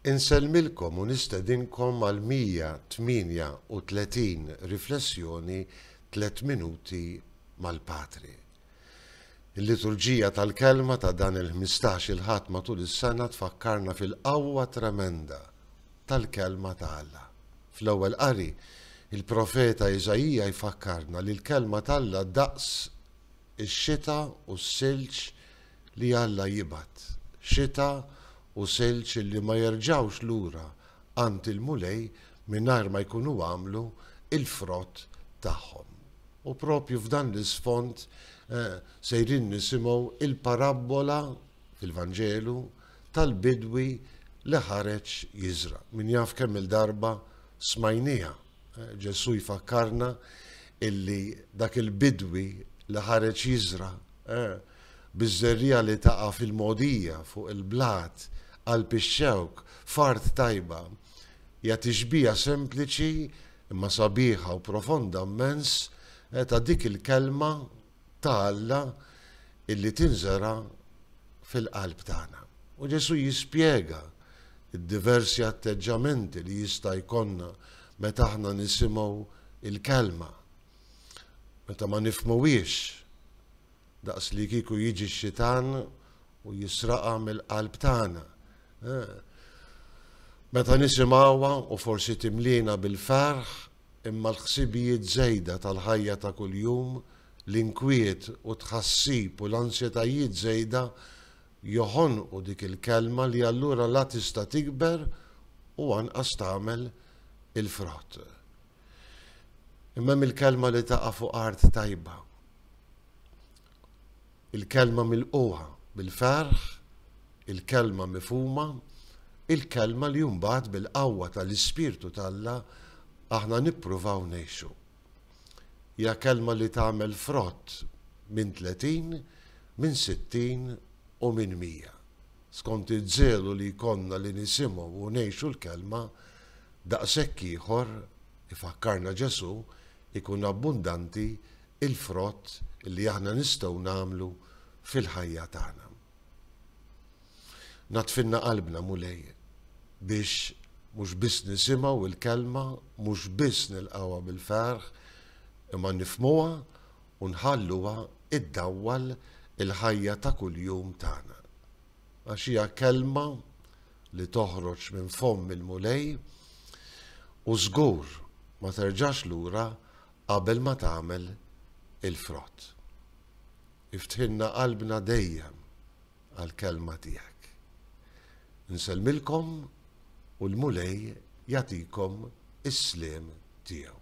Insellmilkom u nistedinkom għall-138 Riflessjoni Tliet Minuti mal-Patri. Il-liturġija tal-Kelma ta' dan il-ħmistax il-Ħadd matul is-sena tfakkarna fil-qawwa tremenda tal-Kelma ta' Alla. Fl-Ewwel Qari, il-profeta Iżaija jfakkarna li l-Kelma t'Alla daqs ix-xita u s-silġ li Alla jibgħat xita u silġ li ma jerġgħux lura għand il-Mulej mingħajr ma jkunu għamlu l-frott tagħhom. U proprju f'dan l-isfond sejrin nisimgħu l-parabbola fil-Vanġelu tal-bidwi li ħareġ jiżra'. Min jaf kemm-il darba smajnieha. Ġesù jfakkarna li dak il-bidwi li ħareġ jiżra' biż-żerriegħa li taqa' fil-mogħdija fuq il-blat, qalb ix-xewk, f'art tajba, hija tixbiha sempliċi imma sabiħa u profonda mmens ta' dik il-Kelma ta' Alla illi tinżera' fil-qalb tagħna. U Ġesù jispjega d-diversi atteġġamenti li jista' jkollna meta aħna nisimgħu l-Kelma, meta ma nifhmuhiex, Daqs li kieku jiġi x-xitan u jisraqha mill-qalb tagħna. Meta nisimgħuha u forsi timliena bil-ferħ imma l-ħsibijiet żejda tal-ħajja ta' kuljum, l-inkwiet u t-tħassib u l-ansjetajiet żejda joħonqu dik il-kelma li allura la tista' tikber u anqas tagħmel il-frott. Imma hemm il-kelma li taqa' fuq art tajba. Il-kelma mill-qoha bil-ferħ, il-kelma mifhuma, il-kelma li mbagħad bil-qawwa tal-Ispirtu t'Alla aħna nippruvaw ngħixu. Hija kelma li tagħmel frott minn 30, minn 60 u minn 100. Skont iż-żelu li jkollna li nisimgħu u ngħixu l-kelma, Daqshekk ieħor, ifakkarna Ġesù, ikun abbundanti l-frott li aħna nistgħu nagħmlu fil-ħajja tagħna. Natfinna qalbna, Mulej, biex mhux biss nisimgħu l-kelma, mhux biss nilqgħuha bil-ferħ, imma nifhmuha u nħalluha iddawwal il-ħajja ta' kuljum tagħna. Għax hija kelma li toħroġ minn fomm il-Mulej u żgur ma terġax lura qabel ma tagħmel il-frott. Iftħilna qalbna dejjem għall-kelma tiegħek. Nsellmilkom u l-Mulej jagħtikom is-sliem tiegħu.